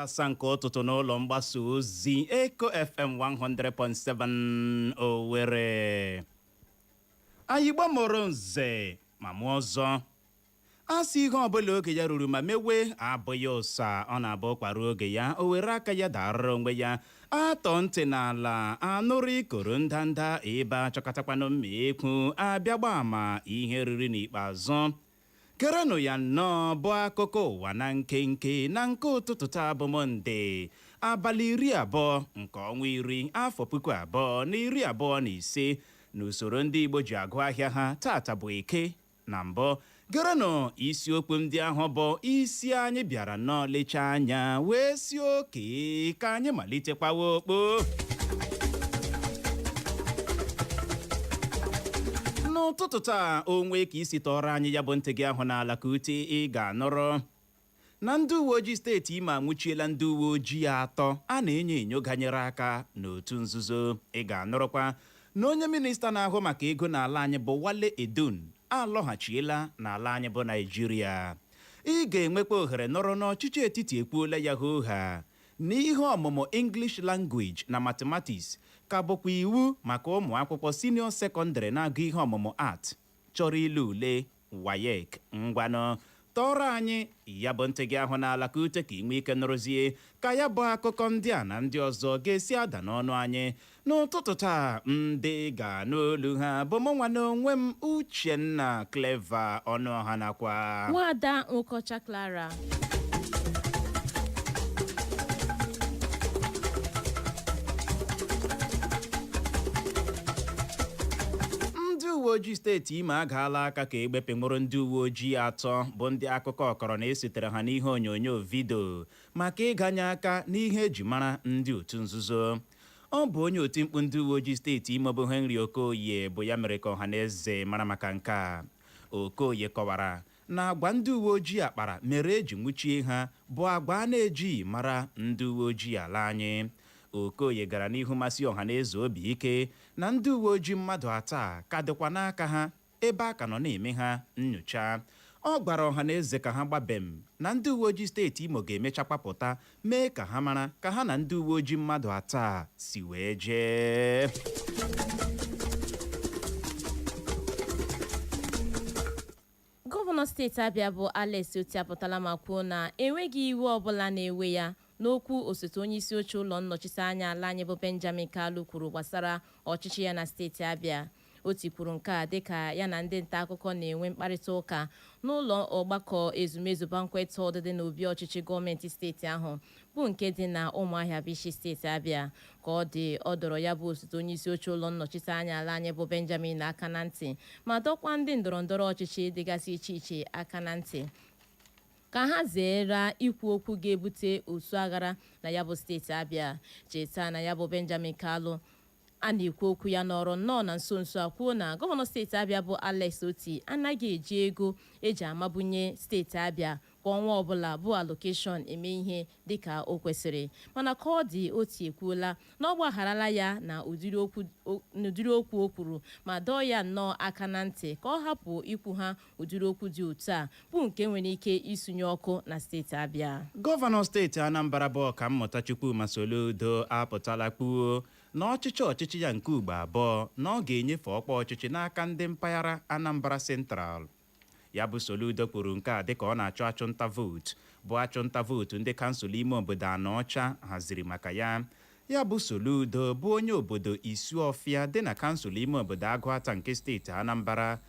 asaa nke ụtụtụ n'ụlọ mgbasa ozi Eko FM 100.7 Owerri anyị Igbo mụrụ nze ma mụọ ọzọ a sị ihe ọbụla oge ya ruru ma mewe abụghị ụsa ọ na-abụ ụkwa ruo oge ya o were aka ya darara onwe ya a tọọ ntị n'ala a nụrụ ikoro ndanda ebe a chọkatakwanụ mma ekwu a bịa gba ama ihe e riri n'ikpeazụ gerenụ ya nnọọ bụ akụkọ ụwa na nkenke na nke ụtụtụ taa bụ mọnde abalị iri abụọ nke ọnwa iri afọ puku abụọ na iri abụọ na ise n'usoro ndị igbo ji agụ ahịa ha tata bụ eke Na mbụ, gerenụ isiokwu ndị ahụ bụ isi anyị bịara nnọọ lechaa anya wee sị oke ka anyị malitekwawa okpo. N'ụtụtụ taa o nwee ka i si tọọrọ anyị ya bụ ntị gị ahụ n'ala ka ute ị ga-anụrụ na ndị uweojii steeti Imo anwụchiela ndị uweojii atọ a na-enyo enyo ganyere aka n'otu nzuzo. Ị ga-anụrụkwa na onye minista na-ahụ maka ego n'ala anyị bụ Wale Edun alọghachiela n'ala anyị bụ Naịjirịa. Ị ga-enwekwa ohere nụrụ na ọchịchị etiti ekwuola ya hoo haa na ihe ọmụmụ English Language na Mathematics ka bụkwa iwu maka ụmụakwụkwọ siniọ sekọndịrị na-agụ ihe ọmụmụ Art chọrọ ile ule WAEC, ngwanụ tọọrọ anyị ya bụ ntị gị ahụ n'ala ka ute ka i nwee ike nụrụzie ka ya bụ akụkọ ndị a na ndị ọzọ ga-esi ada n'ọnụ anyị n'ụtụtụ taa ndị ị ga-anụ olu ha bụ mụnwa na onwe m Uchenna Clever Ọnụọha nakwa Nwaada Nwokocha Clara ndị uwe ojii steeti imo agaala aka ka egbe wee nwụrụ ndị uwe ojii atọ bụ ndị akụkọ kọrọ na e setere ha n'ihe onyonyo vidio maka ịganye aka n'ihe e ji mara ndị otu nzuzo ọ bụ onye oti mkpu ndị uwe ojii steeti imo bụ henry okoye bụ ya mere ka ọha na eze mara maka nke a okoye kọwara na agwa ndị uweojii a kpara mere e ji nwụchie ha bụ agwa a na-ejighị mara ndị uweojii ala anyị. Okoye gara n'ihu masi ọhanaeze obi ike na ndị uweojii mmadụ atọ a ka dịkwa n'aka ha ebe a ka nọ na-eme ha nnyocha. Ọ gwara ọhanaeze ka ha gba bem na ndị uweojii steeti Imo ga-emechakwa pụta mee ka ha mara ka ha na ndị uweojii mmadụ atọ a si wee jee. Gọvanọ steeti Abịa bụ Alex Otti apụtala ma kwuo na enweghị iwe ọbụla na-ewe ya n'okwu osote onyeisioche ụlọ nnọchiteanya ala anyị bụ Benjamin Kalu kwuru gbasara ọchịchị ya na steeti Abịa. Otti kwuru nke a dịka ya na ndị ntaakụkọ na-enwe mkparịtaụka n'ụlọ ọgbakọ ezumezu Banquet Hall dị n'obi ọchịchị gọọmenti steeti ahụ bụ nke dị na Ụmụahịa bụ isi steeti Abịa. Ka ọ dị, ọ dọrọ ya bụ osote onyeisi oche ụlọ nnọchiteanya ala anyị bụ Benjamin aka na ntị ma dọkwa ndị ndọrọndọrọ ọchịchị dịgasị iche iche aka na ntị ka ha zeere ikwu okwu ga-ebute osu aghara na ya bụ steeti Abịa. Cheta na ya bụ Benjamin Kalu A na-ekwu okwu ya nọrọ nnọọ na nso nso a kwuo na gọvanọ steeti Abịa bụ Alex Otti anaghị eji ego e ji amabunye steeti Abịa kwa ọnwa ọbụla bụ allocation eme ihe dịka o kwesịrị. Mana ka ọ dị, Otti ekwuola na ọ gbagharala ya na ụdịrị okwu o kwuru ma dọọ ya nnọọ aka na ntị ka ọ hapụ ikwu ha ụdịrị okwu dị otu a bụ nke nwere ike isunye ọkụ na steeti Abịa Gọvanọ steeti Anambra bụ Ọkammụta Chukwuma Soludo apụtala kwuo na ọ chịchaa ọchịchị ya nke ugbo abụọ na ọ ga-enyefe ọkwa ọchịchị n'aka ndị mpaghara Anambra Central ya bụ Soludo kwuru nke a dịka ọ na-achụ achụnta vootu bụ achụnta vootu ndị kansụl ime obodo Anaọcha haziri maka ya Ya bụ Soludo bụ onye obodo Isuọfịa dị na kansụl ime obodo Agụata nke steeti Anambra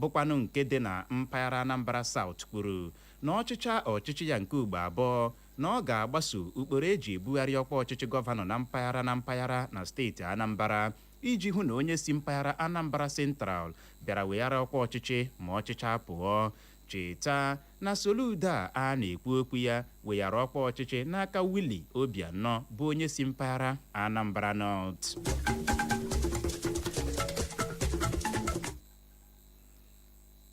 bụkwanụ nke dị na mpaghara Anambra South kwuru na ọ chịchaa ọchịchị ya nke ugbo abụọ na ọ ga-agbaso ụkpụrụ e ji ebugharị ọkwa ọchịchị gọvanọ na mpaghara na mpaghara na steeti Anambra iji hụ na onye si mpaghara Anambra Central bịara weghara ọkwa ọchịchị ma ọ chịchaa pụọ Cheta na Soludo a a na-ekwu okwu ya weghara ọkwa ọchịchị n'aka Willie Obianọ bụ onye si mpaghara Anambra North.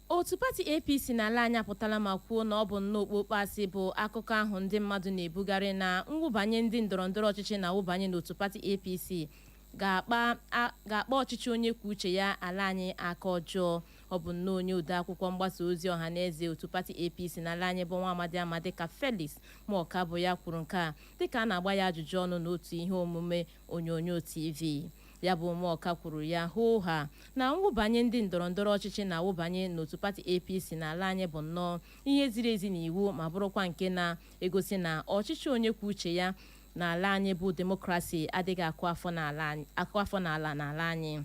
Otu pati APC n'ala anyị apụtala ma kwuo na ọ bụ nnọọ okpokpo asị bụ akụkọ ahụ ndị mmadụ na-ebugharị na mwụbanye ndị ndọrọndọrọ ọchịchị na-awụbanye n'otu pati APC ga-akpa ọchịchị onye kwuo uche ya ala anyị aka ọjọọ Ọ bụ nnọọ onye odeakwụkwọ mgbasa ozi ọhaneze otu pati APC n'ala anyị bụ nwa amadị a ma dịka Felix Morka bụ ya kwuru nke a dịka a na-agba ya ajụjụ ọnụ n'otu ihe omume onyonyo TV. Ya bụ Morka kwuru ya hoo ha na mwụbanye ndị ndọrọndọrọ ọchịchị na-awụbanye n'otu pati APC n'ala anyị bụ nnọọ ihe ziri ezi n'iwu ma bụrụkwa nke na-egosi na ọchịchị onye kwuo uche ya n'ala anyị bụ demokrasi adịghị akụ afọ n'ala n'ala anyị.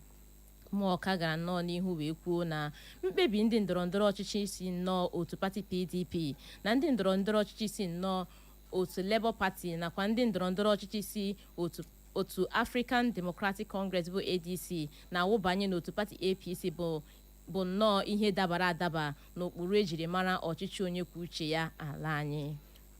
Muoka gara nnọọ n'ihu wee kwuo na mkpebi ndị ndọrọndọrọ ọchịchị si nnọọ otu pati PDP na ndị ndọrọndọrọ ọchịchị si nnọọ otu Labour Party nakwa ndị ndọrọndọrọ ọchịchị si otu African Democratic Congress bụ ADC na-awụbanye n'otu pati APC bụ nnọọ ihe dabara adaba n'ụkpụrụ e jiri mara ọchịchị onye kwuo uche ya ala anyị.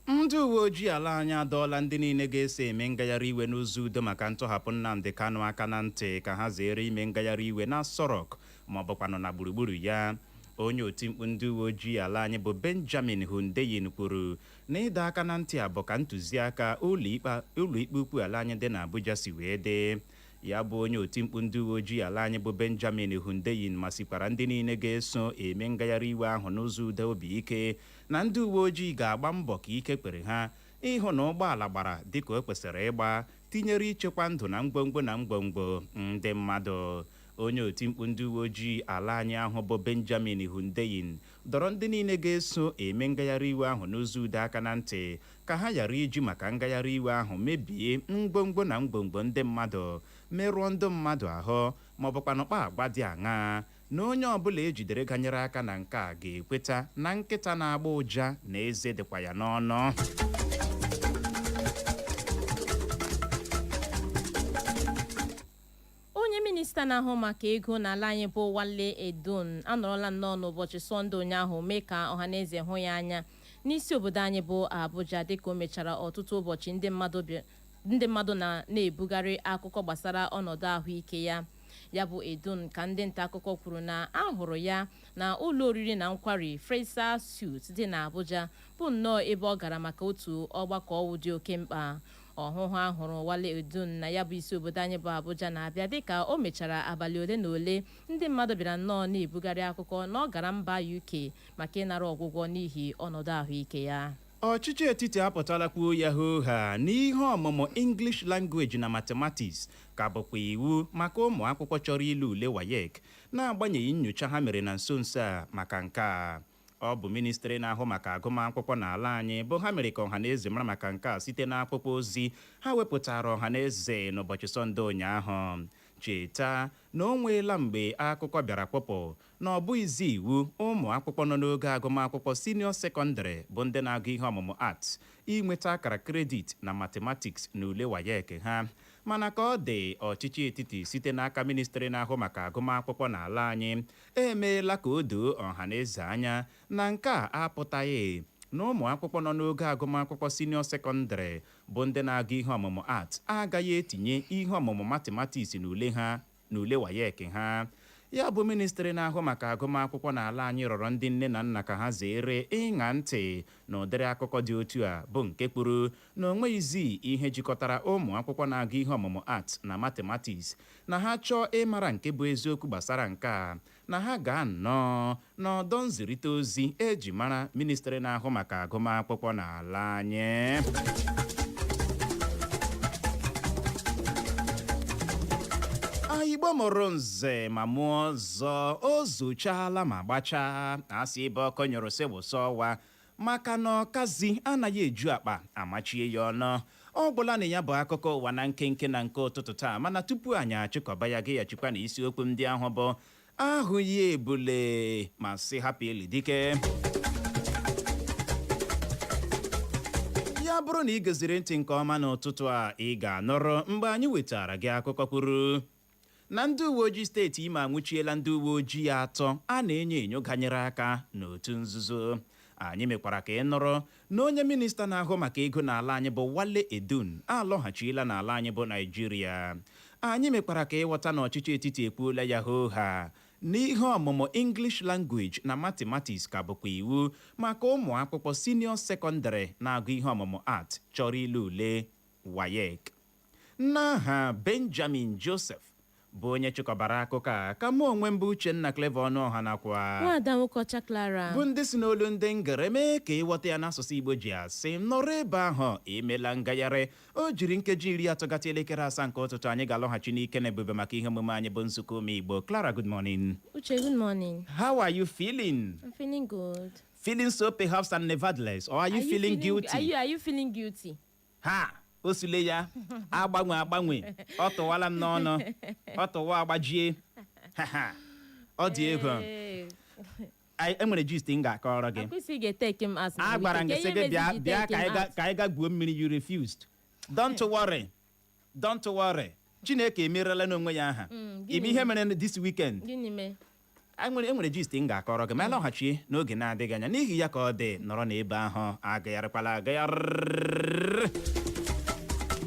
Ndị uweojii ala anyị adọọla ndị niile ga-eso eme ngagharị iwe n'ụzọ udo maka ntọhapụ Nnamdi Kanu aka na ntị ka ha zeere ime ngagharị iwe n'Aso Rock maọbụkwanụ na gburugburu ya. Onye otimkpu ndị uweojii ala anyị bụ Benjamin Hundeyin kwuru na ịdọ aka na ntị a bụ ka ntụziaka ụlọikpe ukwu ala anyị dị n'Abuja si wee dị. Ya bụ onye otimkpu ndị uweojii ala anyị bụ Benjamin Hundeyin masikwara ndị niile ga-eso eme ngagharị iwe ahụ n'ụzọ udo obi ike na ndị uweojii ga-agba mbọ ka ike kwere ha ịhụ na ụgbọala gbara dịka o kwesịrị ịgba tinyere ichekwa ndụ na ngwongwo na ngwongwo ndị mmadụ. Onye otimkpu ndị uweojii ala anyị ahụ bụ Benjamin Hundeyin dọrọ ndị niile ga-eso eme ngagharịiwe ahụ n'ụzọ udo aka na ntị ka ha ghara iji maka ngagharịiwe ahụ mebie ngwongwo na ngwongwo ndị mmadụ, merụọ ndị mmadụ ahụ maọbụkwanụ kpaa agwa dị aṅaa. na onye ọbụla e jidere ganyere aka na nke a ga-ekweta na nkịta na-agba ụja na eze dịkwa ya n'ọnụ onye minista na-ahụ maka ego n'ala anyị bụ Wale Edun anọrọla nnọọ n'ụbọchị sọnde ụnyaahụ mee ka ọhaneze hụ ya anya n'isi obodo anyị bụ Abuja dịka o mechara ọtụtụ ụbọchị ndị mmadụ na-ebugharị akụkọ gbasara ọnọdụ ahụike ya ya bụ edun ka ndị ntaakụkọ kwuru na a hụrụ ya na ụlọ oriri na nkwari Fraser Suite dị n'Abuja bụ nnọọ ebe ọ gara maka otu ọgbakọ ọwụ dị oke mkpa ọhụhụ a hụrụ Wale Edun na ya bụ isi obodo anyị bụ Abuja na-abịa dịka o mechara abalị ole na ole ndị mmadụ bịara nnọọ na-ebugharị akụkọ na ọ gara mba UK maka ịnara ọgwụgwọ n'ihi ọnọdụ ahụike ya Ọchịchị etiti apụtala kwuo ya hoo haa na ihe ọmụmụ English Language na Mathematics ka bụkwa iwu maka ụmụ akwụkwọ chọrọ ile ule WAEC na-agbanyeghị nnyocha ha mere na nso nso a maka nke a. Ọ bụ ministri na-ahụ maka agụmakwụkwọ n'ala anyị bụ ha mere ka ọhaneze mara maka nke a site n'akwụkwọ ozi ha wepụtara ọhaneze n'ụbọchị Sọnde ụnyaahụ. Cheta na o nweela mgbe akụkọ bịara kpụpụ na ọ bụghịzi iwu ụmụ akwụkwọ nọ n'ogo agụmakwụkwọ siniọ sekọndịrị bụ ndị na-agụ ihe ọmụmụ Arts inweta akara kredit na Mathematics n'ule WAEC ha. Mana ka ọ dị, ọchịchị etiti site n'aka Ministri na-ahụ maka agụmakwụkwọ n'ala anyị emeela ka o doo ọhaneze anya na nke a apụtaghị na ụmụ akwụkwọ nọ n'ogo agụmakwụkwọ siniọ sekọndịrị bụ ndị na-agụ ihe ọmụmụ Arts agaghị etinye ihe ọmụmụ Mathematics n'ule ha n'ule WAEC ha. Ya bụ ministri na-ahụ maka agụmakwụkwọ n'ala anyị rọrọ ndị nne na nna ka ha zeere ịṅa ntị n'ụdịrị akụkọ dị otu a bụ nke kwuru na o nweghịzi ihe jikọtara ụmụ akwụkwọ na-agụ ihe ọmụmụ Arts na Mathematics na ha chọọ ịmara nke bụ eziokwu gbasara nke a na ha gaa nnọọ n'ọdọ nzirịta ozi e ji mara ministri na-ahụ maka agụmakwụkwọ n'ala anyị igbo mụrụ nze ma mụọ ọzọ o zuchaala ma gbachaa a sị ebe ọkụ nyụrụ sị wụsa ọwa maka na ọkazi anaghị eju akpa a machie ya ọnụ ọ gwụla na ya bụ akụkọ ụwa na nkenke na nke ụtụtụ taa mana tupu anyị achịkọba ya geghachikwa na isiokwu ndị ahụ bụ ahụghị ebule ma sị hapụ ili dike ya bụrụ na ị geziri ntị nke ọma n'ụtụtụ a ị ga-anụrụ mgbe anyị wetara gị akụkọ kwuru na ndị uweojii steeti Imo anwụchiela ndị uweojii atọ a na-enyo enyo ganyere aka n'otu nzuzo. Anyị mekwara ka ị nụrụ na onye minista na-ahụ maka ego n'ala anyị bụ Wale Edun alọghachiela n'ala anyị bụ Naịjirịa. Anyị mekwara ka ị ghọta na ọchịchị etiti ekwuola ya hoo haa na ihe ọmụmụ English Language na Mathematics ka bụkwa iwu maka ụmụ akwụkwọ senior sekọndịrị na-agụ ihe ọmụmụ Art chọrọ ile ule WAEC. N'aha Benjamin Joseph bụ onye chịkọbara akụkọ a ka mụ onwe m bụ Uchenna Clever Ọnụọha nakwa. Nwaada Nwokeọcha Clara. Bụ ndị si n'olu ndị ngere mee ka ị ghọta ya n'asụsụ Igbo ji asị, nọrọ ebe ahụ, emela ngagharị. O jiri nkeji iri atọ gata elekere asaa nke ụtụtụ anyị ga-alọghachi n'ike na ebube maka ihe omume anyị bụ Nzukọ Ụmụ Igbo. Clara, good morning. Uche, good morning. How are you feeling? I'm feeling good. Feeling so perhaps and nevertheless, or are you, Are you feeling, guilty? Are you, are you feeling guilty? ha o sule ya agbanwe agbanwe ọ tụwala m n'ọnụ ọ tụwa agbajie Ha, ha. ọ dị egwu Ee, Anyị- e nwere gist m ga-akọrọ gị akwụsị ga-eteki m as a gwara m gị sị gị bịa bịa ka anyị ga- ka anyị ga gwuo mmiri you refused don't worry don't worry chineke emerela n'onwe ya aha Mm, gịnị ime ihe mere this weekend gịnị mee E nwere e nwere gist m ga-akọrọ gị ma a lọghachi n'oge na-adịghị anya n'ihi ya ka ọ dị nọrọ n'ebe ahụ agagharịkwala agagharị